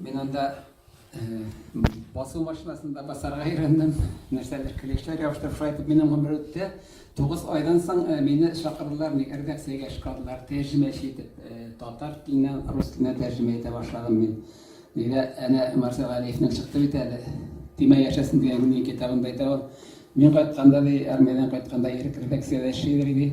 Мин анда басу машинасында басарга өйрәндем, нәрсәдер клешлар ябыштырып шулай итеп минем гомер үтте. Тугыз айдан соң э, мине чакырдылар ник редакциягә чакырдылар, тәрҗемәче итеп. Э, татар теленнән рус теленә тәрҗемә итә башладым мин. Нигә әнә Марсел Галиевнең чыкты бит әле. Тимә яшәсен дигән минем китабында әйтә ул. Мин кайтканда ди, армиядән кайтканда ирек редакциядә эшли иде.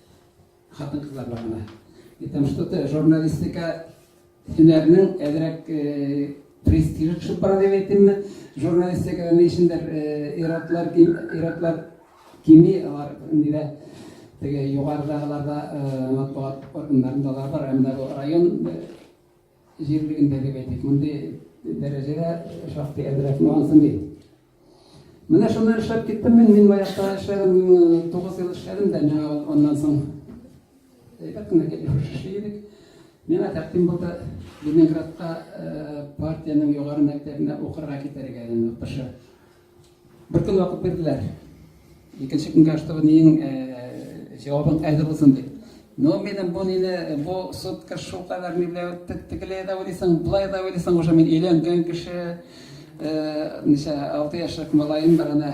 Хатын-кызлар бар гына. И там что-то журналистика һөнәрнең әзрәк престижы төшеп бара дип әйтимме? Журналистикада ни өчендер иратлар, иратлар кими, алар инде дә теге югарыдагыларда матбугат органнарында да бар, әмма бу район җирлегендәге, әйтик, мондый дәрәҗәгә шактый әзрәк миңа ансын ди. Менә шуннан эшләп киттем мин, мин баягыда эшләдем, тугыз ел эшләдем дә, миңа аннан соң әйбәт кенә кәләпүш эшли идек. Миңа тәкъдим булды Ленинградка партиянең югары мәктәбенә укырга китәргә, укытучы. Бер көн вакыт бирделәр. Икенче көнгә аштыру нең җавабын әзер булсын дип. Но минем бу нине, бу сутка шул кадәр миләү тегеләй дә уйлыйсың, былай да уйлыйсың, уже мин өйләнгән кеше, ничә, алты яшьлек малаем бар ана.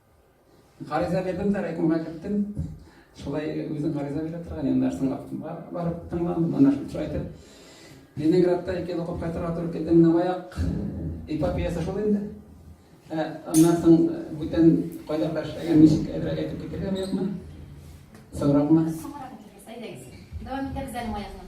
Гариза бирдем дә райкомга киттем. Шулай үзем гариза бирә торган, енді нәрсең вакытында барып тыңлам, монда шулай итеп. Ленинградта ике ел оқып кайтырга туры килде. Менә аяк эпопеясы шул инде. Ә аннан соң бүтән кайда кара эшләгән, ничек әйбрәк әйтеп китергә бу якны? Соңракмы? Соңрак әйтергә, әйдәгез. Дәвам итәбез әле аякны.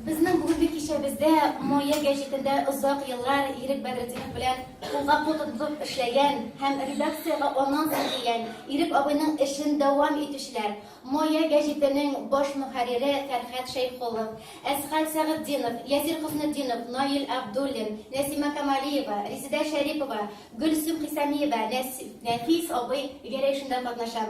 Безнең бүгенге кичәбездә Моя гәҗитендә озак еллар Ирек Бәдретдинов белән кулга-кул тотып эшләгән һәм редакциягә аннан соң килгән Ирек абыйның эшен дәвам итүчеләр, Моя гәҗитенең баш мөхәррире Фәрхәт Шәйхуллов, Әсхәт Сәгытдинов, Ясир Хөснетдинов, Наил Абдуллин, Нәсимә Камалиева, Резедә Шәрипова, Гөлсем Хисамиева, Нәфис абый Гәрәй эшендә катнаша.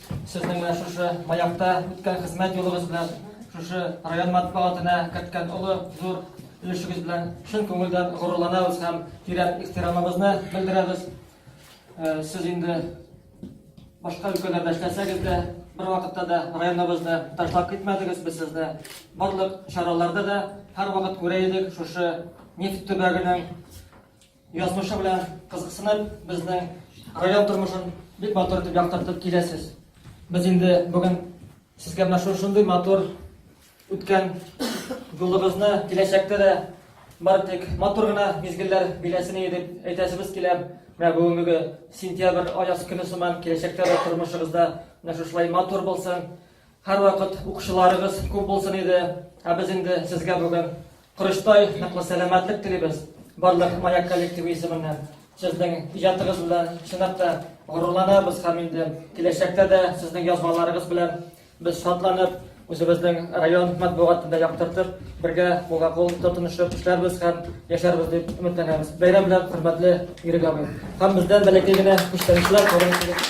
Сезнең менә шушы Маякта үткән хезмәт юлыгыз белән, шушы район матбугатына керткән олы зур өлешегез белән чын күңелдән горурланабыз һәм тирән ихтирамыбызны белдерәбез. Э, сез инде башка өлкәләрдә эшләсәгез дә, бер вакытта да районыбызны ташлап китмәдегез. Без сезне барлык чараларда да һәрвакыт күрә идек. Шушы нефть төбәгенең Язмышы белән кызыксынып, безнең район тормышын бик матур итеп яктыртып киләсез. Без инде бүген сезгә менә шушындый матур үткән юлыгызны киләчәктә дә бары тик матур гына мизгелләр биләсен дип әйтәсебез килә. Менә бүгенге сентябрь аяз көне сыман киләчәктә дә тормышыгызда менә шушылай матур булсын. Һәрвакыт укучыларыгыз күп булсын иде. Ә без инде сезгә бүген Корычтай, ныклы сәламәтлек телибез. Барлык Маяк коллективы исеменнән. Сезнең иҗатыгыз белән чынлап та горурланабыз һәм инде киләчәктә дә сезнең язмаларыгыз белән без шатланып, үзебезнең район матбугатында яктыртып, бергә кулга кул тотынышып эшләрбез һәм яшәрбез дип өметләнәбез. Бәйрәм белән хөрмәтле Ирек абый. Һәм бездән бәләкәй генә күчтәнешләр кабул итегез.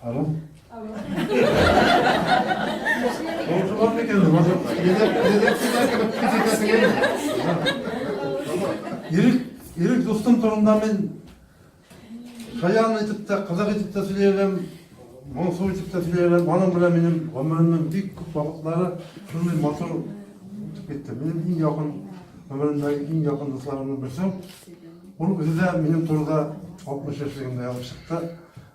Алло. Алло. Алло. Алло. Ирек дустым турында мен шаян итеп тә, кызык итеп тә сөйләйем, моңсу итеп тә сөйләйем. Аның белән минем гомеремнең бик күп вакытлары шундый матур үтеп китте. Минем иң якын гомеремдәге иң якын дусларымның берсе. Ул үзе дә минем турыда 60 яшьлегендә язып чыкты.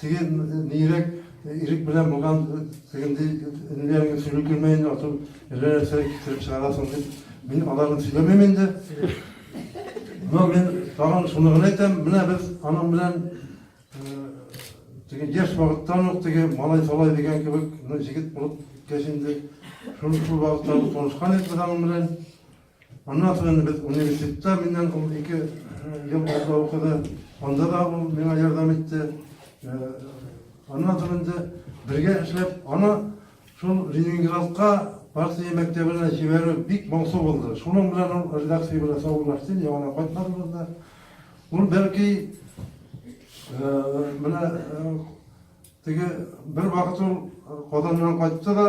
Теге нирәк ирек белән булган тегенди энеләреңне сөйләп килмә инде, ату әллә нәрсә китереп чыгарасың дип, мин аларны сөйләмим инде. Но мин тагын шуны гына әйтәм, менә без аның белән теге яшь вакыттан ук теге малай салай дигән кебек, ну җигет булып киткәч инде, шул шул вакыттан танышкан идек без аның белән. Аннан соң инде без университетта миннән ул ике ел алда укыды. Анда да ул миңа ярдәм итте. Аннан соң инде бергә эшләп, аны шул Ленинградка партия мәктәбенә җибәрү бик моңсу булды. Шуның белән ул редакция белән саубуллашты, яңа кайтмадылар да. Ул бәлки менә теге бер вакыт ул Казаннан кайтты да,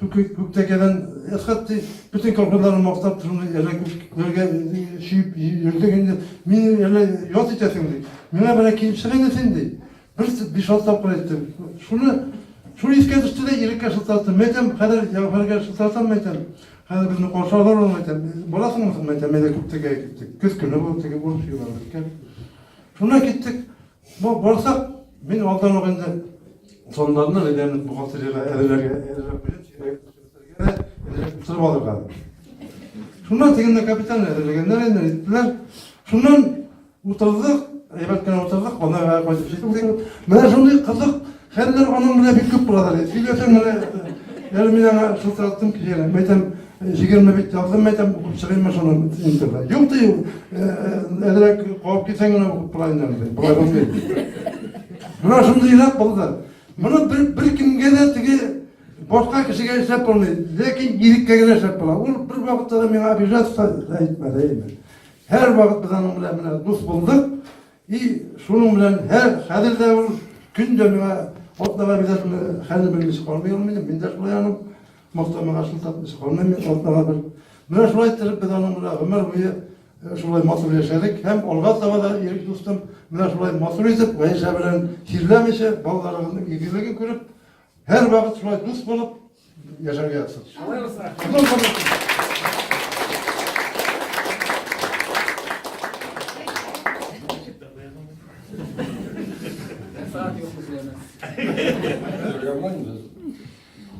Күк күк тәкәдән ысхат ди, бөтен колхозларны мактап шундый әллә күкләргә чөеп йөрдең инде, мине әллә ят итәсең ди. Миңа берәр килеп чык инде син ди. Бер биш-алты тапкыр әйттем. Шуны шуны искә төште дә Иреккә шылтыраттым. Мин әйтәм, хәзер Җәүһәргә шылтыратам, мин әйтәм. Хәзер безне каршы алыр ул, мин әйтәм. Барасыңмы соң, мин әйтәм, әйдә күк тәкәгә киттек. Көз көне бу, теге урып чыгып икән. Шунда киттек. Ну, барсак, мин алдан ук инде планнарны әйләнеп бухгалтериягә әзерләргә әзерләп куйдым, чирәгә торып алырга. Шуннан тегенне капитан әзерләгәннәр инде, әйттеләр. Шуннан утырдык, әйбәт кенә утырдык, ана кайтып җиттек. Менә шундый кызык Хәлләр аның белән бик күп булалар. Сөйләсәң менә, әле мин аңа шылтыраттым килә. Мәйтәм, мәйтәм, җигерме бит яздым, мәйтәм, укып чыгыйммы шуны интерда. Юк ди, әзрәк куып китсәң генә укып була инде. Болай булмый. Менә шундый илат булды. Моны бер, бер кемгә дә теге башка кешегә эшләп булмый. Ләкин иреккә генә эшләп була. Ул бер вакытта да миңа обижаться әйтмәде. Һәр вакыт без аның белән дус булдык. И шуның белән һәр хәзер дә ул көн дә миңа атнага бирәсме хәзер белмичә калмый ул мине мин дә шулай аның мактамага шул тапмыйча калмыйм мин атнага бер менә шулай иттереп без аның белән гомер буе э, шулай матур яшәдек һәм алга таба да ирек дустым менә шулай матур итеп гаишә белән чирләмичә балаларының игелеген күреп һәр вакыт шулай дус булып Я же авиация.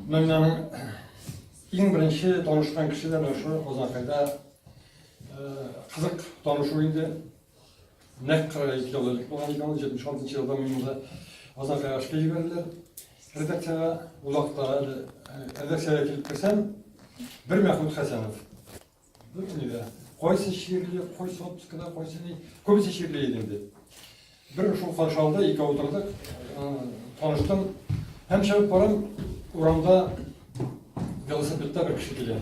Мәмнәнең иң беренче танышкан кеше дә менә шул Казанкайда кызык танышу инде. Нәкъ 42 ел элек булган иде ул, 76 елда мине Азан Кагашка җибәрделәр. Редакциягә ул вакытта әле редакциягә килеп керсәм, бер Мәхмүт Хәсәнов. Бер нидә. Кайсы шигырьле, кайсы отпускада, кайсы ни, күбесе шигырьле иде инде. Бер шул каршы алды, ике утырдык, таныштым. Һәм чыгып барам, урамда велосипедта бер кеше килә.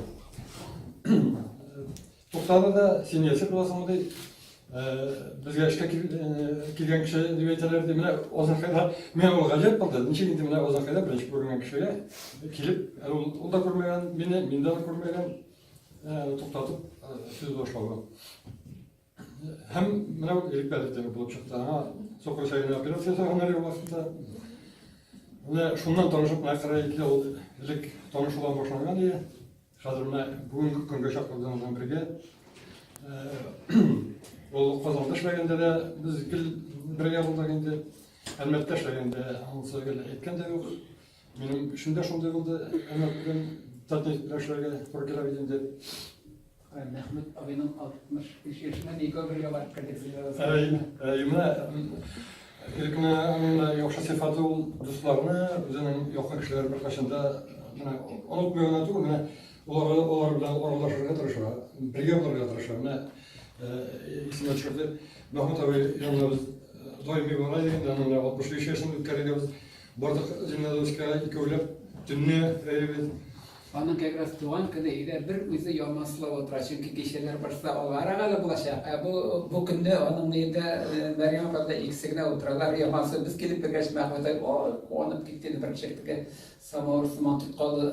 Туктады да, син яши буласыңмы ди. Безгә эшкә килгән кеше дип әйтәләр ди. Менә Озакайда миңа ул гаҗәп булды. Ничек инде менә Озакайда беренче күренгән кешегә килеп, ул да күрмәгән мине, мин дә күрмәгән. Туктатып сүз башлауы. Һәм менә Ирек Бәлетева булып чыкты. Аңа сукыр чәйне операция ясаганнар юл башында. Менә шуннан танышып, менә кырык ике ел элек танышудан башланган иде. Хәзер менә бүгенге көнгә чаклардан белән бергә ул Казанда эшләгәндә дә без гел бергә булдык инде. Әлмәттә эшләгәндә анысы гел әйткән дә юк. Минем өчен дә шундый булды. Әлмәттән татник белән эшләргә туры килә бит инде. Мәхмүт абыйның 63 яшенә никә бергә барып кердек. Әй, әй, менә Ирекне аның да яхшы сыйфаты ул дусларны, үзенең якын кешеләрен беркайчан да менә онытмый гына түгел, менә олар олар белән аралашырга тырыша, бергә булырга тырыша. Менә исенә төшерде. Мәхмүт абый янына без даими бара идек, аның 65 яшен үткәргәбез. Бардык Зеленодольскига икәүләп төнне рәйбез. Аның как раз туган көне өйдә бер үзе ялмаслы утыра, чөнки кичәләр башта алга арагада булачак. Ә бу бу көндә аның өендә э, Мәрьям апа белән икесе генә утыралар. Ялмасы без килеп кергәч, Мәхмүтай куанып китте, бер чиртке самавыр сыман тоткалды.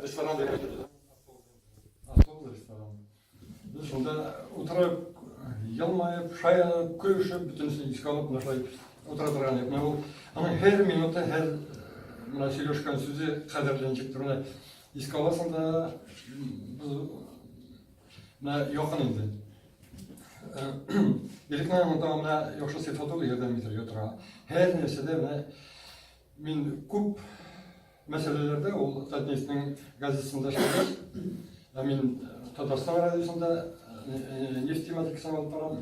Ресторан да ятыр да. Особый ресторан. Без шунда утырып, елмаеп, шаянып, көлешеп, бөтенесе искә алып, менә шулай утыра торган идек. Менә ул аның һәр минуты, һәр менә сөйләшкән сүзе кадерләнчек турына искә аласың да, без менә якын инде. Ирекнең монда менә яхшы сыйфаты ул ярдәм итәргә тора. Һәр нәрсәдә менә мин күп мәсьәләләрдә ул Татнефтьнең газетасында эшләгән. Ә мин Татарстан радиосында нефть тематикасын алып барам.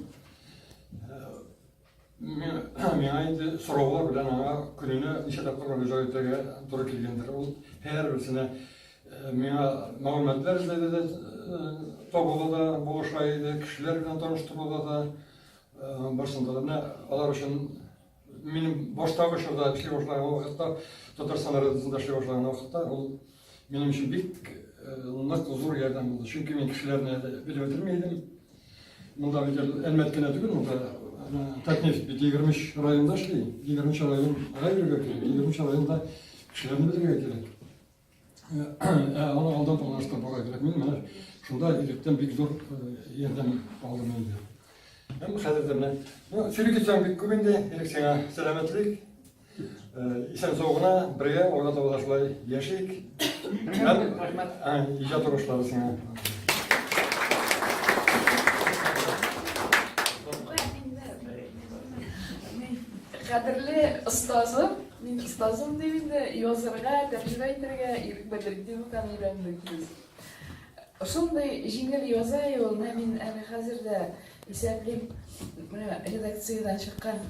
Миңа инде сораулар белән аңа көненә ничә тапкыр мөрәҗәгать итәргә туры килгәндер. Ул һәрберсенә миңа мәгълүматлар эзләде дә, табуда да булыша иде, кешеләр белән таныштыруда да, барсында да. Менә алар өчен Минем баштагы чорда эшли башлаган вакытта, Татарстан радиосында эшли башлаган вакытта, ул минем өчен бик э, нык зур ярдәм булды. Чөнки мин кешеләрне белеп бетерми идем. Монда бит Әлмәт кенә түгел, монда э, Татнефть бит 23 районда эшли. 23 район гай бергә кирәк. 23 районда кешеләрне белергә кирәк. Аны алдан планлаштырып була кирәк. Мин менә шунда илектән бик зур ярдәм алдым инде. Һәм хәзер дә менә. Ну, сирек икән бик күп инде. Элек сиңа сәламәтлек. Исән сау гына, бергә алга таба да шулай яшик. Һәм иҗат уңышлары сиңа. Кадерле остазым Мин остазым дип инде язырга, тәрҗемә итәргә ирек бирдек, дип укан өйрәндек без. Шундый җиңел яза ул, менә мин әле хәзер дә исәплим, менә редакциядән чыккан,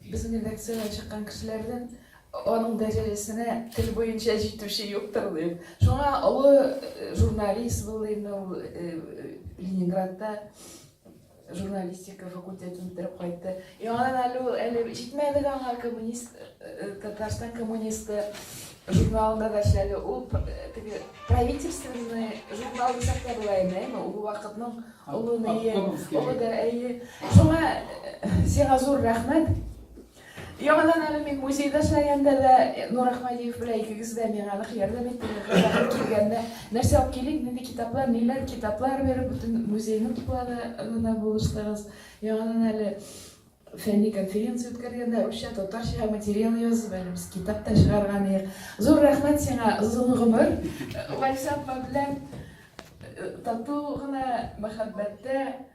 безнең редакциядән чыккан кешеләрдән аның дәрәҗәсенә тел буенча җитүче юктыр дип. Шуңа олы э, журналист булды инде ул э, э, Ленинградта журналистика факультетын бетереп кайтты. И анан әле ул әле җитмәдек аңа коммунист э, э, Татарстан коммунисты журналында да эшләде. Ул э, теге правительственный журнал дисәк тә була инде, әйме, ул вакытның олы нәйе, олы да әйе. Шуңа сиңа зур рәхмәт. Яңадан әле мин музейда эшләгәндә дә Нур Ахмадиев белән икегез дә миңа нык ярдәм иттегез. Килгәндә нәрсә алып килик, нинди китаплар, ниләр китаплар биреп, бөтен музейның тупларына да булыштыгыз. Яңадан әле фәнни конференция үткәргәндә русча, татарча материал язып, әле без китап та чыгарган идек. Зур рәхмәт сиңа, озын гомер. Вальсапма белән тату гына мәхәббәттә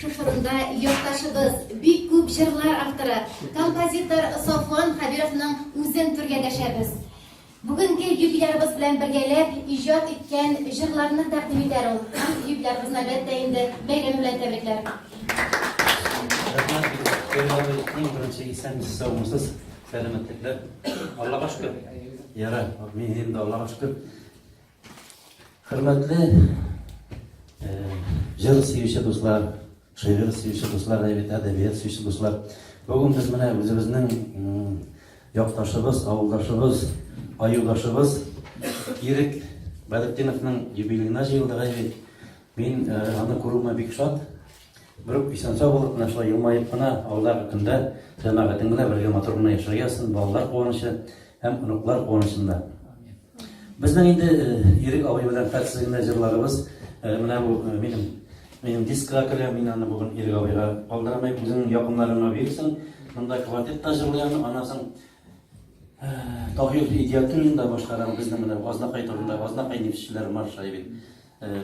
Шу форумда якташыбыз бик күп җырлар авторы, композитор Софуан Хәбировның үзен түргә дәшәбез. Бүгенге юбилярыбыз белән бергәләп иҗат иткән җырларны тәкъдим итәр ул. Юбилярыбызны, әлбәттә, инде бәйрәме белән тәбрикләр. Рәхмәт, иң беренче исәнмесез, саумысыз, сәламәтлекләр. Аллага шөкер. Яра, мин инде Аллага шөкер. Хөрмәтле җыр сөюче дуслар, шигырь сөюче дуслар, әдәбият сөюче дуслар. Бүген без менә үзебезнең якташыбыз, авылдашыбыз, аюдашыбыз Ирек Бәдетдиновның юбилеена җыелдык әйбит. Мин аны күрүемә бик шат. Бер үк исән сау булып, менә шулай елмаеп кына, алда көндә җәмәгатең белән бергә матур гына яшәргә язсын, балалар куанычы. Һәм оныклар куанычында. Безнең инде Ирек абый белән Фәтсый генә җырларыбыз менә бу минем минем дискка керә, мин аны бүген Ирек абыйга калдырмыйм, үзенең якыннарына бирсен. Монда Квартет та җырлыйм, аннан соң Тагил Идиатуллин да башкара безнең менә Азнакай турында, Азнакай нефтьчеләр маршы бит.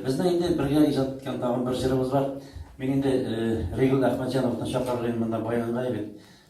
Безнең инде бергә иҗат иткән тагын бер җырыбыз бар. Мин инде Ригл Әхмәтҗановны чакырырга инде монда Баянга бит.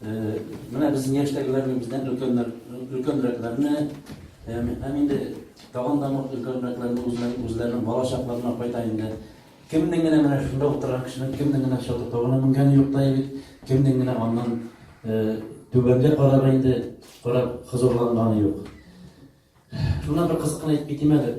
Менә безнең яшьтәгеләрне бездән өлкәннәр, өлкәнрәкләрне һәм инде тагын да өлкәнрәкләрне үзләрен үзләренең бала чакларына кайта инде. Кемнең генә менә шунда утырган кешенең кемнең генә чатыр тавына менгәне юк та бит, кемнең генә аннан түбәнгә карап инде карап хозурланганы юк. Шуннан бер кызыкны әйтеп китим әле.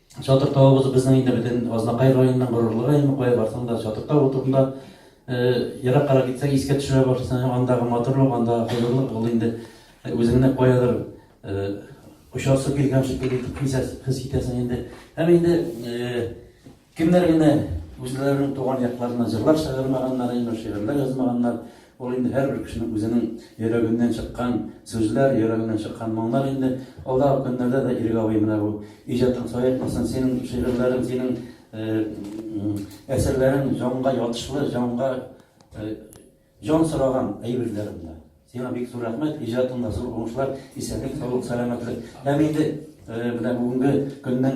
Чатыр тавыбыз безнең инде бөтен Азнакай районының горурлыгы, әйме, кая барсаң да Чатыр тавы турында ераккарак китсәң искә төшерә башлыйсың, андагы матурлык, андагы хозурлык ул инде үзеңне каядыр очасы килгән шикелле итеп хис итәсең инде. Һәм инде кемнәр генә үзләренең туган якларына җырлар чыгармаганнар, әйме, шигырьләр язмаганнар, Ул инде һәрбер кешенең үзенең йөрәгеннән чыккан сүзләр, йөрәгеннән чыккан моңнар инде. Алдагы көннәрдә дә Ирек абый менә бу иҗатың саекмасын, синең шигырьләрең, синең әсәрләрең җанга ятышлы, җанга җан сораган әйберләр монда. Сиңа бик зур рәхмәт, иҗатыңда зур уңышлар, исәнлек, саулык, сәламәтлек. Һәм инде менә бүгенге көннең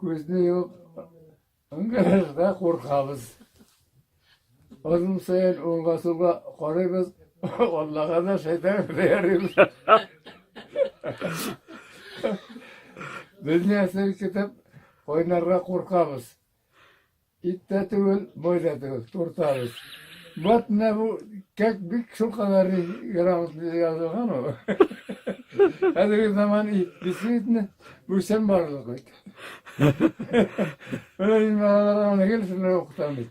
Күзне юк, гаражда куркабыз. Озын саен уңга сулга карыйбыз, Аллага да шайтан да ярыйбыз. Безне әсер китеп, кайнарга куркабыз. Ит тә түгел, бой да түгел, туртабыз. Вот менә бу кәк бик шулкадәр грамотно язылган ул. Хәзерге заман ит, действительно, бүсән барлык бит. Менә мин балаларга аны гел шуны укытам бит.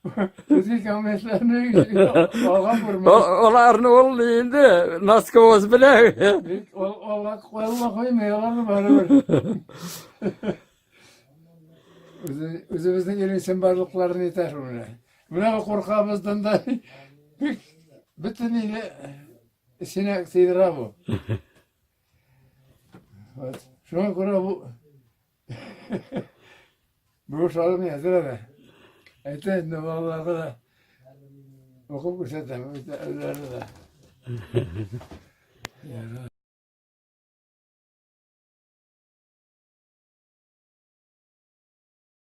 Көзге кәмәшләрне алган күрмәдем. Аларны ул инде носкоз белән. Алар куелма куймый, аларны барыбер. Үзебезнең илнең чынбарлыкларын әйтә шул менә. Менә куркабыздан да бик бөтен иле эченә сыйдыра бу. Вот. Шуңа күрә бу Бу шалым әзер әле. Әйтә инде балаларга да укып күрсәтәм, үзләренә дә.